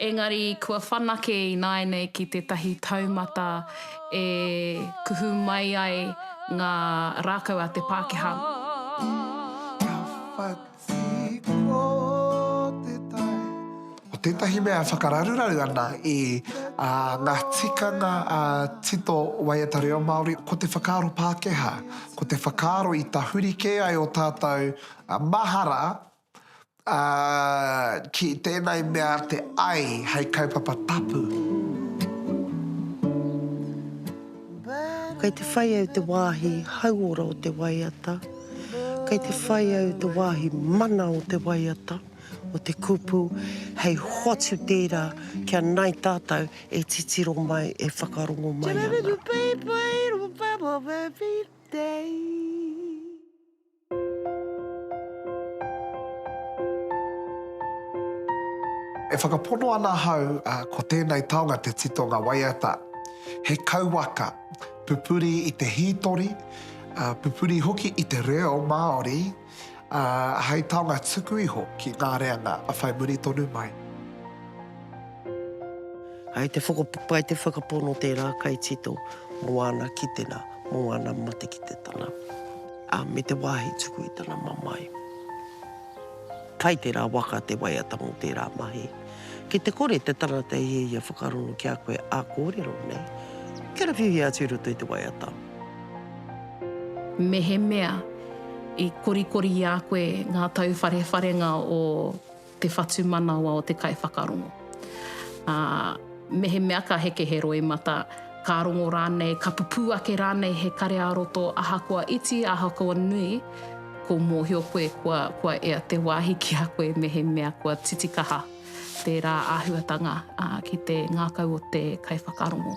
Engari kua whanake ināianei ki tētahi taumata e kuhu mai ai ngā rākau a te Pākehā. Ka whati ko te tai. Ko tētahi mea e whakararuraru ana i ngā tikanga tito waiata reo Māori, ko te whakaaro Pākehā, ko te whakaaro i tahuri kē ai ō tātou mahara Ā, ki tēnei mea te ai hei kaupapa tapu. Kei te whai au te wāhi hauora o te waiata, kei te whai au te wāhi mana o te waiata, o te kupu, hei hoatu tērā kia nāi tātou e titiro mai, e whakarongo mai ana. E whakapono ana ahau ko tēnei taonga te titonga waiata, he kauwaka pupuri i te hītori, pupuri hoki i te reo Māori, ā, hei taonga tuku iho ki ngā reanga whai muri tonu mai. Hai te whakapapa, hai te whakapono tērā kaitito mō ana kitenga, mō ana matekititanga. Ā, me te wāhi tuku i tana mamae. Kai tērā waka te waiata mō tērā mahi. Ki te kore te tangata e hiahia whakarongo ki a koe ā kōrero nei, karawhiuhia atu i roto i te waiata. Mehemea i korikori i a koe ngā tauwharewharenga o te whatumanawa o te kaiwhakarongo. Ā, mehemea ka heke he roimata, ka rongo rānei, ka pupū ake rānei he kare-ā-roto ahakoa iti, ahakoa nui, ko mōhio koe kua, kua ea te wāhi ki a koe mehemea kua titikaha tērā āhuatanga, ā, ki te ngākau o te kaiwhakarongo.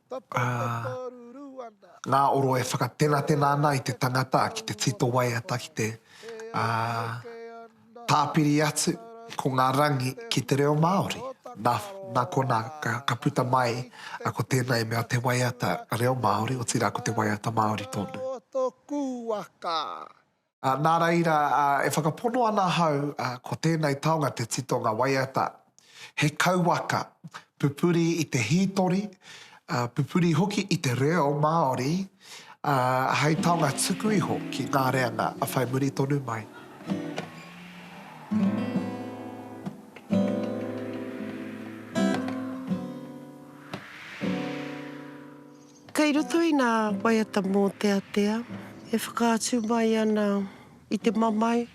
Ā, ngā oro e whakatenatena ana i te tangata ki te tito waiata ki te, ā, tāpiri atu ko ngā rangi ki te reo Māori. Nā, nā konā ka, ka puta mai a ko tēnā i mea te waiata reo Māori, otirā ko te waiata Māori tonu. Nā reira, e whakapono ana ahau, ko tēnei taonga te titonga waiata, he kauwaka, pupuri i te hītori, pupuri hoki i te reo Māori, ā, hei taonga tuku iho ki ngā reanga whai muri tonu mai. Kei roto i nā waiata mōteatea e whakaatu mai ana i te mamae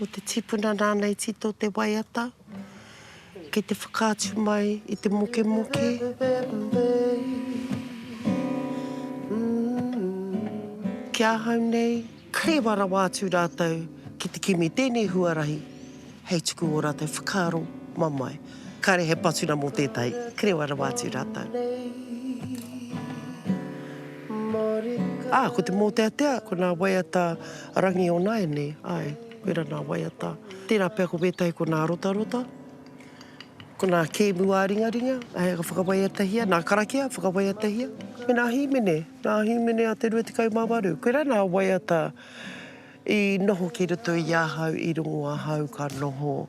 o te tipuna nāna i tito te waiata, kei te whakaatu mai i te mokemoke, ki ahau nei, Ka rewa rawa atu rātou ki te kimi tēnei huarahi hei tuku ō rātou whakaaro mamae. Kāre he patunga mō tētahi, ka rewa rawa atu rātou. Ā, ko te mōteatea, ko nā waiata Rangionaene, āe, koirā nā waiata. Tērā pea ko wētahi ko nā rotarota, ko nā kēmu ā-ringaringa, āe, ka whakawaiatahia, nā karakia, whakawaiatahia, me nā hīmene. Ngā Hīmene a Te Rua Tekau mā Waru. Koirā nā waiata i noho ki roto i ahau, i rongo ahau ka noho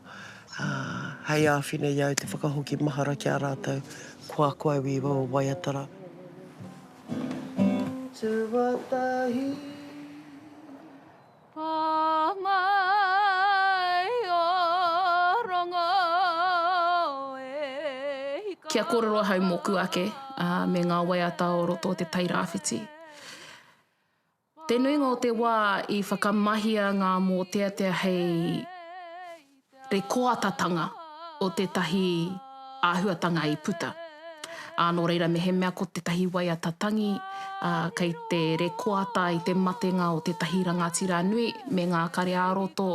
hei āwhina i au te whakahoki mahara ki a rātou, kua ko au i wawa waiata rā. Tuatahi. Kia kōrero ahau mōku ake me ngā waiata o roto o Te Tai Rāwhiti. Te nuinga o te wā i whakamahia ngā mōteatea hei. te koatatanga o tētahi āhuatanga i puta, ā, nō reira mehemea ko tētahi waiata tangi, ā, kei te rekoata i te matenga o tētahi rangatira nui me ngā kare ā-roto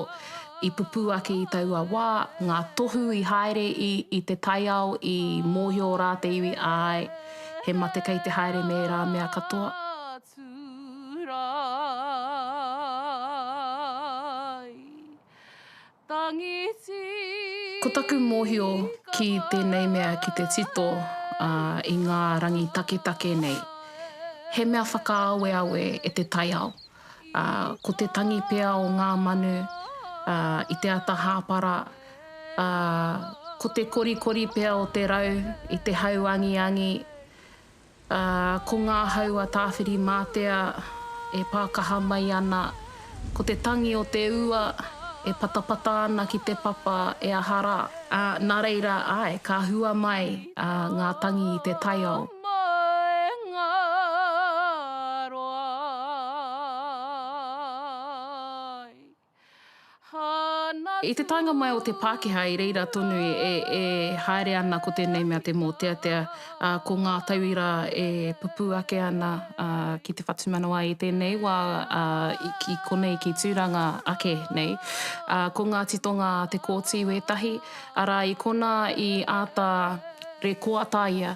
i pupū ake i taua wā, ngā tohu i haere i i te taiao i mōhio rā te iwi, āe, he mate kei te haere me ērā mea katoa. Ā, tū rāi. Ko taku mōhio ki tēnei mea ki te tito i ngā rangi taketake nei, he mea whakaaweawe e te taiao. Ko te tangi pea o ngā manu i te ata hāpara, ko te korikori pea o te rau i te hau angiangi, Ā, ko ngā hau a Tāwhiri-mātea e pākaha mai ana, ko te tangi o te ua e patapata ana ki te papa e aha rā. Ā, nā reira, āe, ka hua mai ngā tangi i te taiao. I te taenga mai o te Pākehā i reira tonu e haere ana ko tēnei mea te mōteatea, ā, ko ngā tauira e pupū ake ana ki te whatumanawa i tēnei wā, ā, ki konei, ki Tūranga ake nei. Ko ngā titonga a Te Kooti wētahi, arā, i konā i āta rekoataia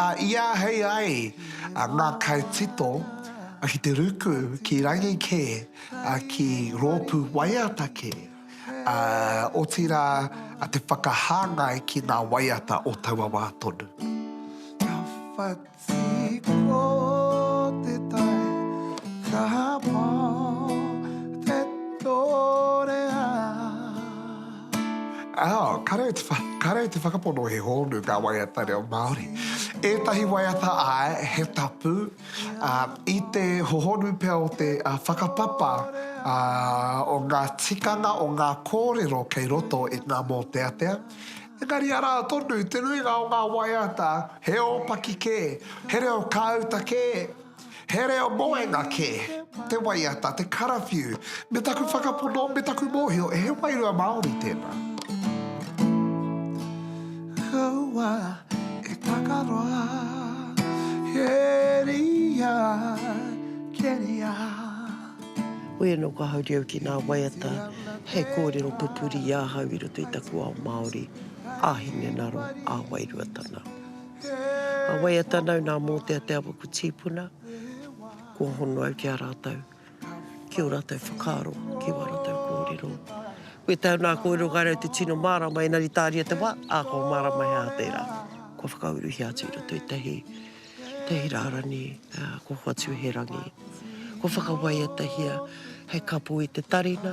I āhei ai ngā kaitito ki te ruku ki rangi kē, ki rōpū waiata kē, otirā te whakahāngai ki ngā waiata o taua wā tonu. Ka whati ko te tai, ka pau te torea. Ao, kareu te whakapono he hōnu ngā waiata reo Māori. Ētahi waiata āe, he tapu, ā, i te hohonu pea o te whakapapa o ngā tikanga o ngā kōrero kei roto i ngā mōteatea, engari arā tonu te nuinga o ngā waiata he ōpaki kē, he reo kāuta kē. He reo moenga kē te waiata, te karawhiu, me taku whakapono, me taku mōhio, he wairua Māori tēnā. Kaua e takaroa, keria, keria. Koe anō kua hauri au ki ngā waiata hei kōrero pupuri i ahau i roto i taku ao Māori, ā-hinengaro, ā-wairua tana. A waiata nau nā mōtea te awa ko tīpuna, kua hono au ki a rātou, ki o rātou whakaaro, ki wā rātou kōrero. Koe tau nā kōrero kai rau te tino mārama, ēnari tāria te wā, ā, kua mārama he aha tērā. Kua whakauruhia atu i roto i tahi, tahi rārani, ā, kua hoatu he rangi. Kua whakawaiatahia hei kapo i te tarina,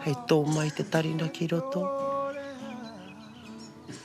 hei tō mai te tarina ki roto.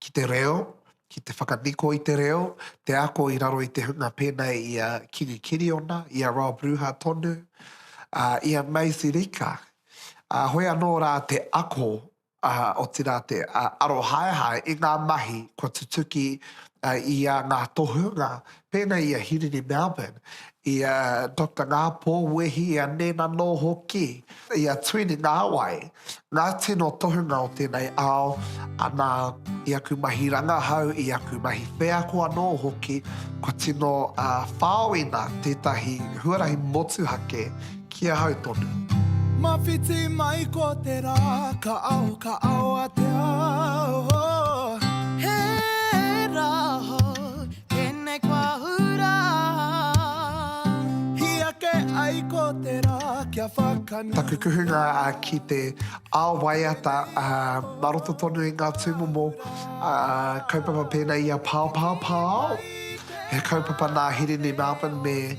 ki te reo, ki te whakaniko i te reo, te ako i raro i te hunga pēnei i a Kingi Kiriona, i a Rob Ruha tonu, ā, i a Maisie Rika. Ā, hoi anō rā te ako, ā, otirā te arohaehae i ngā mahi kua tutuki i a ngā tohunga Pēnei i a Hirini Melbourne, i a Doctor Ngāpō Wehi, i a Nēna Nō hoki, i a Tuini Ngāwai, ngā tino tohunga o tēnei ao, ana, i aku mahi rangahau, i aku mahi wheako anō hoki, kua tino whāoina tētahi huarahi motuhake, Ki ahau tonu. Mawhiti mai ko te ra, ka ao, ka ao a te ao, oh. He ra hou tenei ko ahu ra. Hi ake ai ko te ra, kia whakanu. Taku kuhunga ki te ao waiata ma roto tonu i nga tumomo kaupapa pena i a Paopao Paao, he kaupapa na Hirini Melbourne me.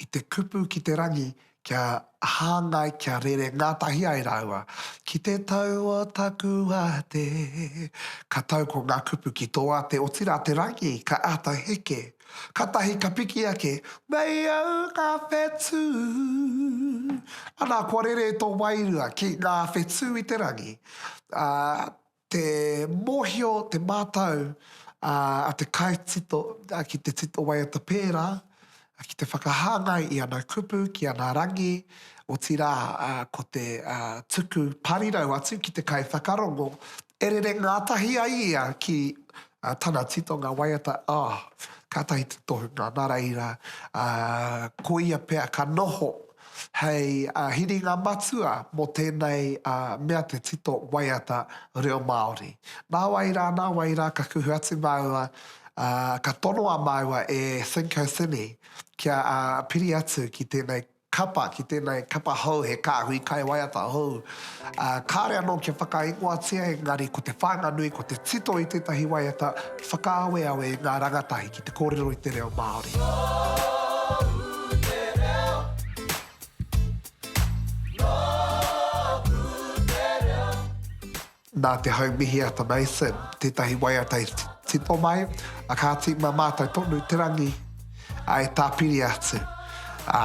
i te kupu ki te rangi kia hāngai, kia rere ngātahi ai rāua ki te tau o taku ate. Ka tau ko ngā kupu ki tō ate, otirā te rangi ka āta heke. Kātahi ka piki ake, Nei au ngā whetū. Anā, kua rere tō wairua ki ngā whetū i te rangi, ā, Te mōhio, te mātau a te kaitito ki te tito waiata pērā ki te whakahāngai i ana kupu ki ana rangi, otirā ko te tuku parirau atu ki te kaiwhakarongo e rere ngātahi ai ia ki tana titonga waiata, oh, kātahi te tohunga, nā reira, koia pea ka noho. hei hiringa matua mō tēnei mea te tito waiata reo Māori. Nā wai rā, nā wai rā ka kuhu atu māua, ka tonoa māua e Thinko Thini kia piri atu ki tēnei kapa, ki tēnei kapa hou, he kāhui kaiwaiata hou. Ā, kāre anō kia whakaingoatia engari ko te whānganui ko te tito i tētahi waiata whakaaweawe i ngā rangatahi ki te kōrero i te reo Māori. Nōku te reo, nōku te reo. Nā te hau mihi a Te Mason tētahi waiata i tito mai, ā, kāti mā mātou tonu te rangi, ā, e tāpiri atu, ā.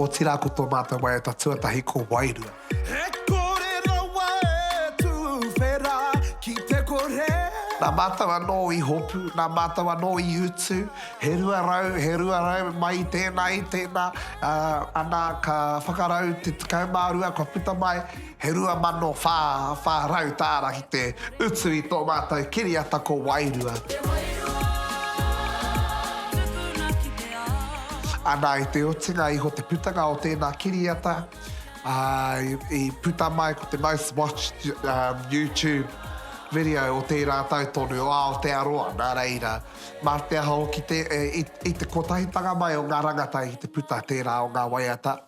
Otirā ko tō mātou waiata tuatahi ko Wairua. He kore rawa e tuwhera ki te kore. Nā mātou anō i hopu, nā mātou anō i utu, he rua rau, he rua rau, mai i tēnā, i tēnā, ā, ana ka whakarau te tekau mā rua kua puta mai. He 2,400 tāra ki te utu i tō mātou kiriata ko Wairua. Te Wairua, tupuna ki te ao. Ana i te otinga iho te putanga o tēnā kiriata, ā, i puta mai ko te most watched YouTube video o tērā tau tonu o Aotearoa, nā reira, mā te aha hoki i te kotahitanga mai o ngā rangatahi ki te puta tērā o ngā waiata.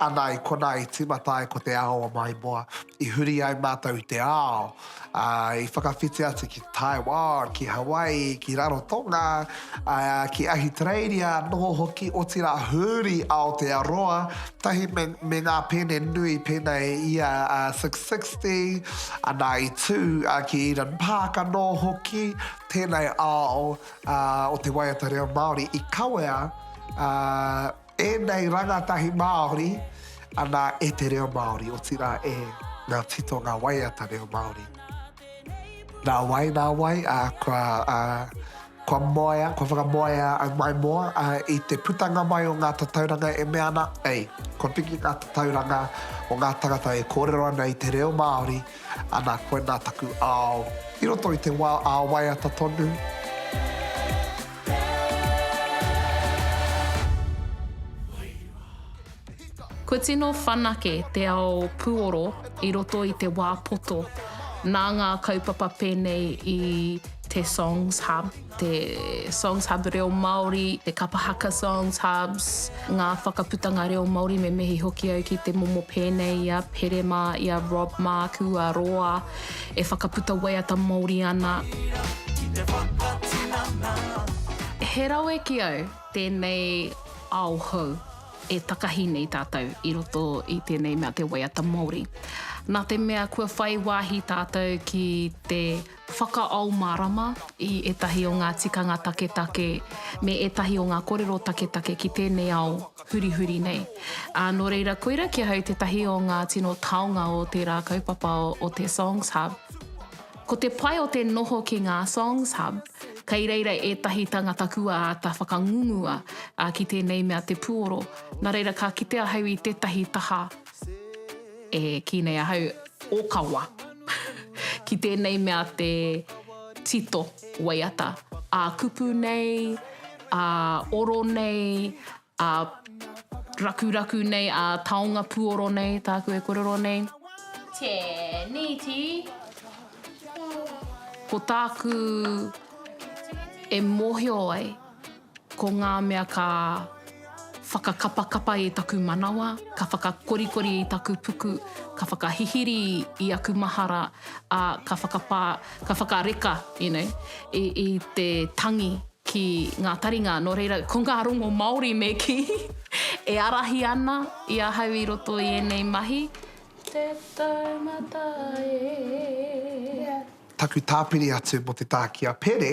Ana i konā i tīmata ai ko te ao o Maimoa, i huri ai mātou i te ao, ā, i whakawhiti atu ki Taiwan, ki Hawaii, ki Rarotonga, ā, ki Ahitereiria noho hoki, otirā huri Aotearoa, tahi me, me ngā pēne nui pēnā e ia a Six Sixty, ana i tū, ā, ki Eden Park anō hoki, tēnei ao, ā, o te waiata reo Māori i kawea, ā, Ēnei rangatahi Māori anā e te reo Māori, otirā e ngā titonga waiata reo Māori. Nā wai, nā wai, ā, kua, ā, kua moea, kua whakamoea au mai moa, ā, i te putanga mai o ngā tatauranga e mea ana, ei, kua piki ngā tatauranga o ngā tangata e kōrero ana i te reo Māori, Ana koe nā taku ao. I roto i te wā ā waiata tonu. Kua tino whanake te ao puoro i roto i te wā poto nā ngā kaupapa pēnei i Te Songs Hub. te Songs Hub Reo Māori, te Kapa Haka Songs Hubs, ngā whakaputanga reo Māori me mihi hoki au ki te momo pēnei i a Pere mā, i a Rob māku, a Roa, e whakaputa waiata Māori ana. He rawe ki au tēnei ao hou e takahi nei tātou i roto i tēnei mea te waiata Māori. Nā te mea kua whai wāhi tātou ki te. Whakaao mārama i ētahi o ngā tikanga taketake me ētahi o ngā kōrero taketake ki tēnei ao hurihuri nei. Ā, nō reira, koira ki ahau tētahi o ngā tino taonga o tērā kaupapa o te Songs Hub. Ko te pai o te noho ki ngā Songs Hub, kei reira ētahi tangata kua āta whakangungua ki tēnei mea te puoro, nā reira ka kite ahau i tētahi taha E kī nei ahau, ōkawa. Ki tēnei mea te tito waiata, ā kupu nei, ā oro nei, ā rakuraku nei, ā taonga puoro nei, tāku e kōrero nei. Tēneti. Ko tāku e mōhio ai. Ko ngā mea ka whakakapakapa i taku manawa, ka whakakorikori i taku puku, ka whakahihiri i aku mahara, ā, ka whakapā, ka whakareka, you know, i, i te tangi ki ngā taringa. Nō reira, ko ngā rongo Māori me kī, e ārahi ana i ahau i roto i ēnei mahi. Te taumata e. Taku tāpiri atu mō te tā ki a Pere,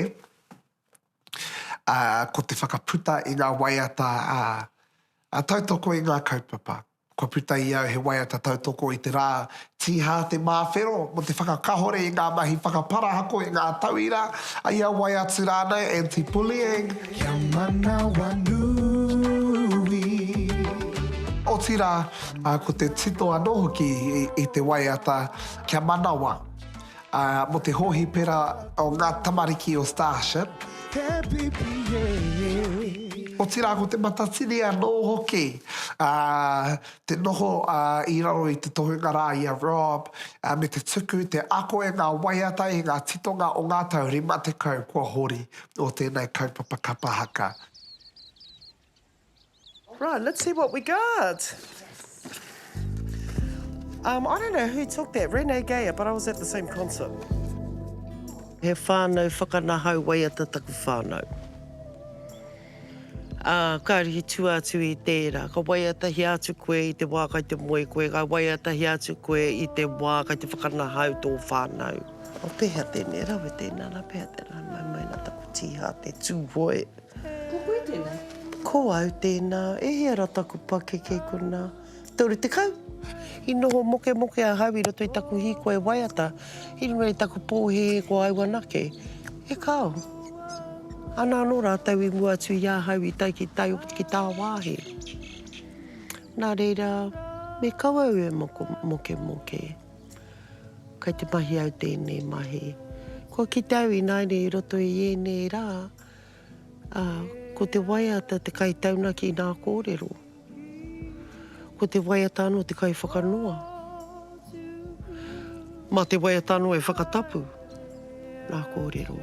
ā, ko te whakaputa i ngā waiata ā, tautoko i ngā kaupapa. Kua puta i au he waiata tautoko i te rā Tīhā te Māwhero mō te whakakahore i ngā mahi whakaparahako i ngā tauira, i a wai atu rānei, anti-bullying. Kia manawanui. Otirā, ko te tito anō hoki i te waiata, kia manawa. Ā, mō te hōhipera o ngā tamariki o Starship. He pipi, he pipi. Otirā ko te matatini anō hoki ā, te noho ā, i raro i te tohunga rā i a Rob ā, me te tuku, te ako e ngā waiata, e ngā titonga o ngā tau 50 kua hori o tēnei kaupapa kapa haka. Right, let's see what we got. Um, I don't know who took that, Renee Gayer, but I was at the same concert. He whānau whakanahau waiata taku whānau. Uh, ka rihi tu atu i tēra, ka waiatahia atu koe i te wā kai te moe koe, ka waiatahia atu koe i te wā kai te whakanahau tō whānau. O pēhea tēnei rawe tēnā, nā pēhea tēnā, nā maina taku tīhā te tūhoe. Ko koe tēnā? Ko au tēnā. E hia ra taku pakeke kuna? Toru tekau. I noho mokemoke ahau i roto i taku hīkoi waiata, i runga i taku pōhēhē ko au anake. E kao. Ana anō rātou i mua atu i ahau i tae ki tai ki tāwāhi. Nā reira, me kau au e moko, mokemoke. Kei te mahi au tēnei mahi. Kua kite au ināianei i roto i ēnei rā, Ā, ko te waiata te kaitaunaki i nā kōrero. Ko te waiata anō te kaiwhakanoa. Mā te waiata anō e whakatapu nā kōrero.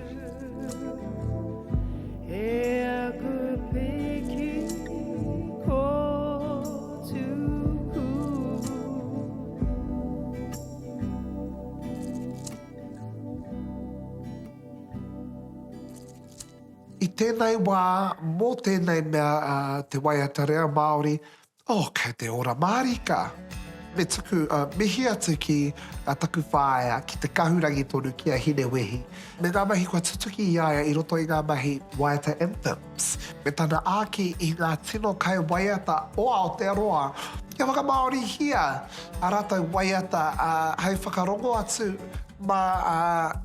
I tēnei wā, mō tēnei mea te waiata reo Māori, oh, kei te ora mārika! Me tuku mihi atu ki a taku whaea, ki te kahurangi tonu, ki a Hinewehi, me ngā mahi kua tutuki i a ia i roto i ngā mahi waiata anthem. Psst, me tana āki i ngā tino kai waiata o Aotearoa, kia whakamāorihia ā rātou waiata hei whakarongo atu mā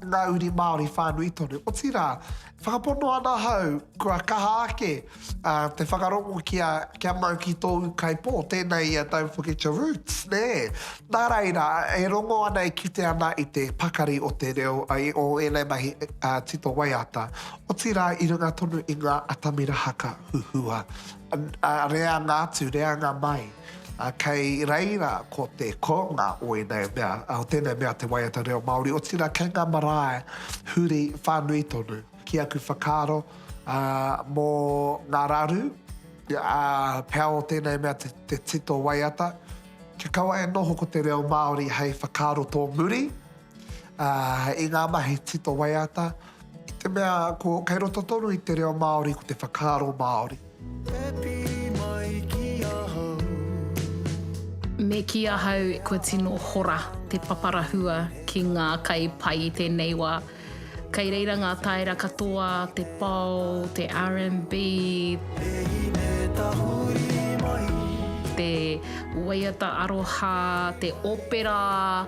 ngā uri Māori whānui tonu. Otirā, whakapono ana ahau, kua kaha ake te whakarongo kia mau ki tōu kaipō, tēnā ia Don't Forget Your Roots, nē? Nā reira, e rongo ana, e kite ana i te pakari o te reo, o ēnei mahi tito waiata. Otirā i runga tonu i ngā atamira haka huhua, ā, reanga atu, reanga mai. Kei reira ko te kounga o ēnei mea, o tēnei mea te waiata reo Māori, otirā kei ngā marae huri whānui tonu. Ki aku whakaaro, ā, mō ngā raru, ā, pea o tēnei mea te tito waiata, kia kaua e noho ko te reo Māori hei whakaaro tōmuri, ā, i ngā mahi tito waiata. I te mea ko kei roto tonu i te reo Māori ko te whakaaro Māori. E pi mai ki ahau. Me kī ahau kua tino hora te paparahua ki ngā kai pai i tēnei wā. Kei reira ngā taera katoa, te pao, te RNB, te waiata aroha, te opera,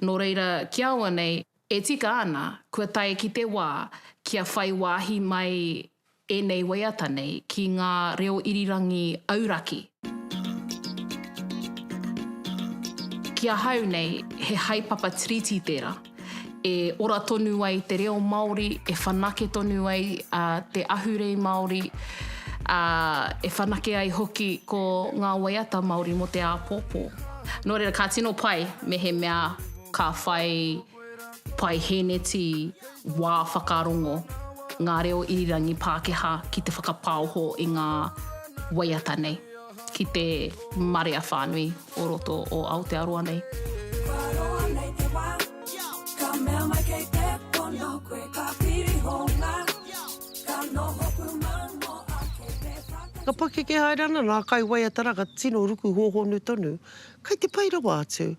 Nō reira, ki auanei, e tika ana kua tae ki te wā kia whai wāhi mai ēnei waiata nei ki ngā reo irirangi auraki. Ki ahau nei, he haepapa tiriti tērā, e ora tonu ai te reo Māori, e whanake tonu ai te ahurei Māori, ā, e whanake ai hoki ko ngā waiata Māori mō te āpōpō. Nō reira, ka tino pai mehemea ka whai paihēneti wā whakarongo ngā reo irirangi Pākehā ki te whakapaoho i ngā waiata nei, ki te marea whānui o roto o Aotearoa nei. Ka pakeke haere ana ngā kaiwaiatara ka tino ruku hōhonu tonu. Kei te pai rawa atu.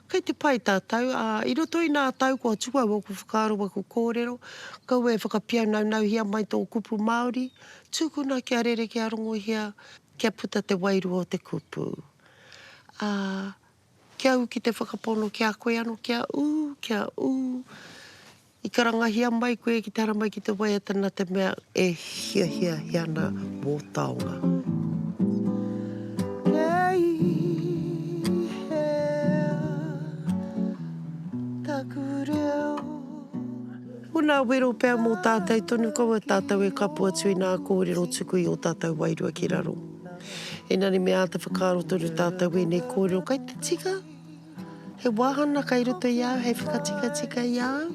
Kei te pai tātou, ā, i roto i nā tau kua tū au ōku whakaaro ōku kōrero, kaua e whakapiaunaunuhia mai tō kupu Māori, tūkuna kia rerekē a rongohia kia puta te wairua o te kupu. Ā. Kia ū ki te whakapono, kia koe anō, kia ū, kia ū, i karangahia mai koe ki te haramai ki te waiata nā te mea e hiahiahia ana wō taonga. Ko nā wero pea mō tātau tonu, ko wā tātau e kapo atu i nā kōrero tuku i ō tātau wairua ki raro. Engari me āta whakaaro tonu tātou ēnei kōrero kei te tika. He wāhana kei roto i a au, hei whakatikatika i a au.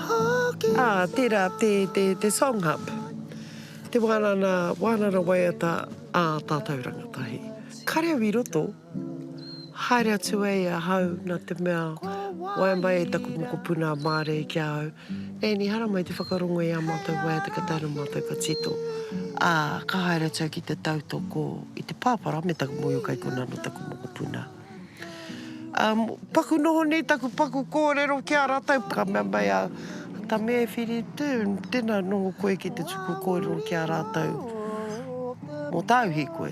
Hoki. Ā, tērā te, te, te Song Hub. Te wānana, wānana waiata ā tātou rangatahi. Kare au i roto, haere atu ai ahau nā te mea, waiamai e taku mokopuna mārei ki a au. Ēni hara mai te whakarongo i ā mātou waiata ka tae rā mātou ka tito, ā, ka haere atu au ki te tautoko i te pāpara me taku mōhio kei konā anō taku mokopuna. Ā, paku noho nei taku paku kōrero ki a rātou, ka mea mai a Tame, e Whiri, tē, tēnā noho koe ki te tuku kōrero ki a rātou mō tāu hīkoi.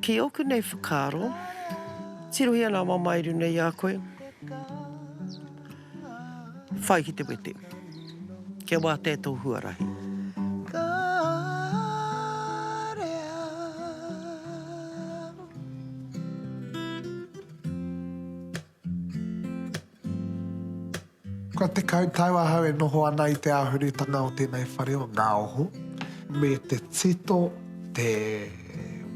Ki ōku nei whakaaro, tirohia nā mamae i runga i a koe, whai ki te wete. Kia wātea tō huarahi. Ka rea. Kua tekau tau ahau e noho ana i te āhurutanga o tēnei whare o Ngāoho, me te tito, te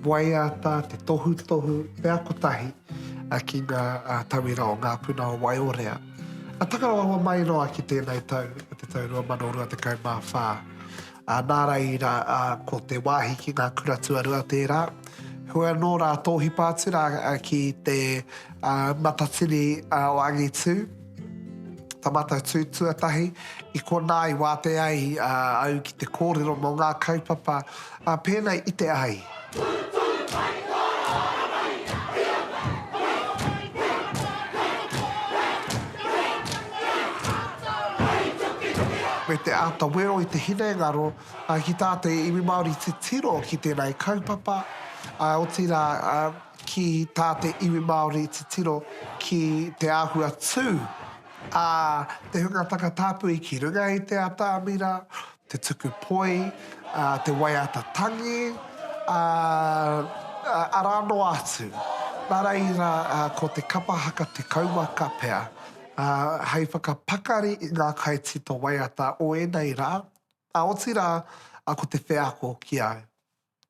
waiata, te tohutohu, te ako tahi ki ngā tauira o Ngā Puna o Waiorea. Takarawaho mai noa ki tēnei tau, te tau 2024. Ā, nā rāi rā, ā, ko te wāhi ki ngā kura tuarua tērā. Heoi anō rā, tōhipa atu rā ki te ā, matatini ā, o Angitū, ta Matatū tuatahi, i konā i wātea ai ā, au ki te kōrero mō ngā kaupapa ā, pēnei i te ai. me te āta wero i te hinengaro ki tā te iwi Māori titiro ki tēnei kaupapa, ā, otirā, ki tā te iwi Māori titiro ki te āhua tū a te hunga takatāpui ki runga i te atamira, te tuku poi, te waiata tangi, ā, arā noa atu. Nā reira, ko te kapa haka te kauwaka pea hei whakapakari i ngā kaitito waiata o ēnei rā, ā, otirā, ko te wheako ki au.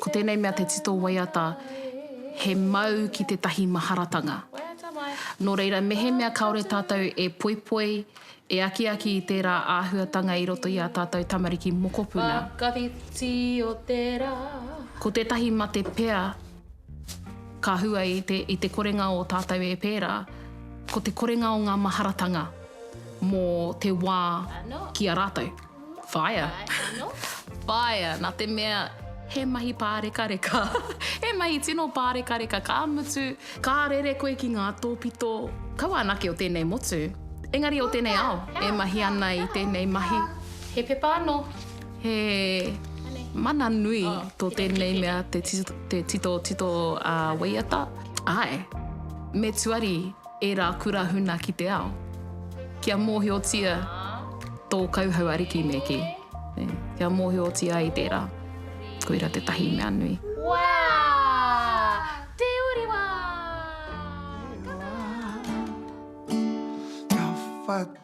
Ko tēnei mea te tito waiata he mau ki tētahi maharatanga. Nō reira, mehemea kāore tātou e poipoi, e akiaki i tērā āhuatanga i roto i ā tātou tamariki mokopuna, ko tētahi mate pea ka hua i te korenga o tātou e pērā, ko te korenga o ngā maharatanga mō te wā ki a rātou. Whaia. Whaia, nā te mea he mahi pārekareka. he mahi tino pārekareka, ka mutu, ka rere koe ki ngā tōpito. Kaua anake o tēnei motu, engari o tēnei ao, e mahi ana i tēnei mahi. He pepa anō. He mana nui tō tēnei mea te titotito waiata. Āe, me tuari. Ērā kura huna ki te ao. Kia mōhiotia tō kauhau ariki me kī. Kia mōhiotia ai tērā. Koira tētahi mea nui. Wā! Te uri wā! Ka whai.